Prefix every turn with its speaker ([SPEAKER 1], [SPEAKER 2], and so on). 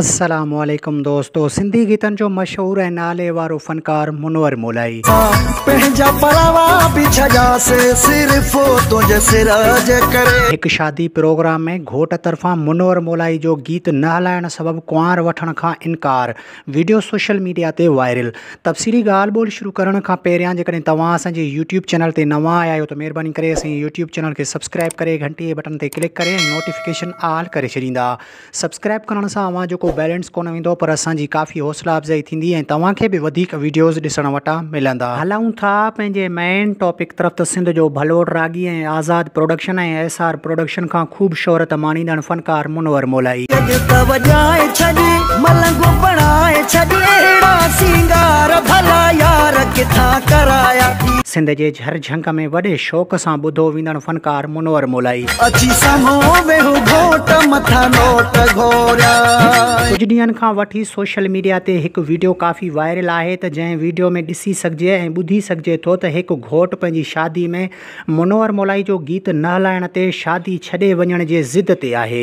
[SPEAKER 1] السلام عليڪم دوستو سنڌي گيتن جو مشهور ۽ نالي وارو فنڪار منور مولائي. پنهنجا پراوا به ڇڏيا سي صرف تنهنجي سر جي ڪري. هڪ شادي پروگرام ۾ گهوٽ طرفان منور مولائي جو گيت نه هلائڻ سبب ڪنوار وٺڻ کان انڪار، وڊيو سوشل ميڊيا تي وائرل. تفصيلي ڳالهه ٻولهه شروع ڪرڻ کان پهريان جيڪڏهن توهان اسان جي يوٽيوب چينل تي نوان آيا آهيو ته مهرباني ڪري اسان جي يوٽيوب چينل کي سبسڪرائب ڪري گهنٽي جي بٽن تي ڪلڪ ڪري ۽ نوٽيفڪيشن آل ڪري ڇڏيندا سبسڪرائب ڪرڻ سان اوهان جو ڪو بيلنس ڪونه ويندو پر اسان جي ڪافي حوصلا افزائي ٿيندي ۽ توهان کي به وڌيڪ ويڊيوز ڏسڻ وٽان ملندا. هلون ٿا پنهنجي مين ٽاپڪ طرف ته سنڌ جو ڀلوڙ راڳي ۽ Azad production ۽ S R production کان خوب شهرت ماڻيندڙ فنڪار منور مولائي. جڳ ته وڄائي ڇڏ ملنگ بڻائي ڇڏ اهڙا سينگار ڀلا يار ڪٿان ڪرايا. سنڌ جي جهر جهنگ ۾ وڏي شوق سان ٻڌو ويندڙ فنڪار. منور مولائي. اچي سامهون ويهه گهوٽ مٿان نوٽ گهوريا. ڪجهه ڏينهن کان وٺي سوشل ميڊيا تي هڪ ويڊيو ڪافي وائرل آهي ته جنهن ويڊيو ۾ ڏسي سگهجي ۽ ٻڌي سگهجي ٿو ته هڪ گهوٽ پنهنجي شادي ۾ منور مولائي جو گيت نه هلائڻ تي شادي ڇڏي وڃڻ جي ضد تي آهي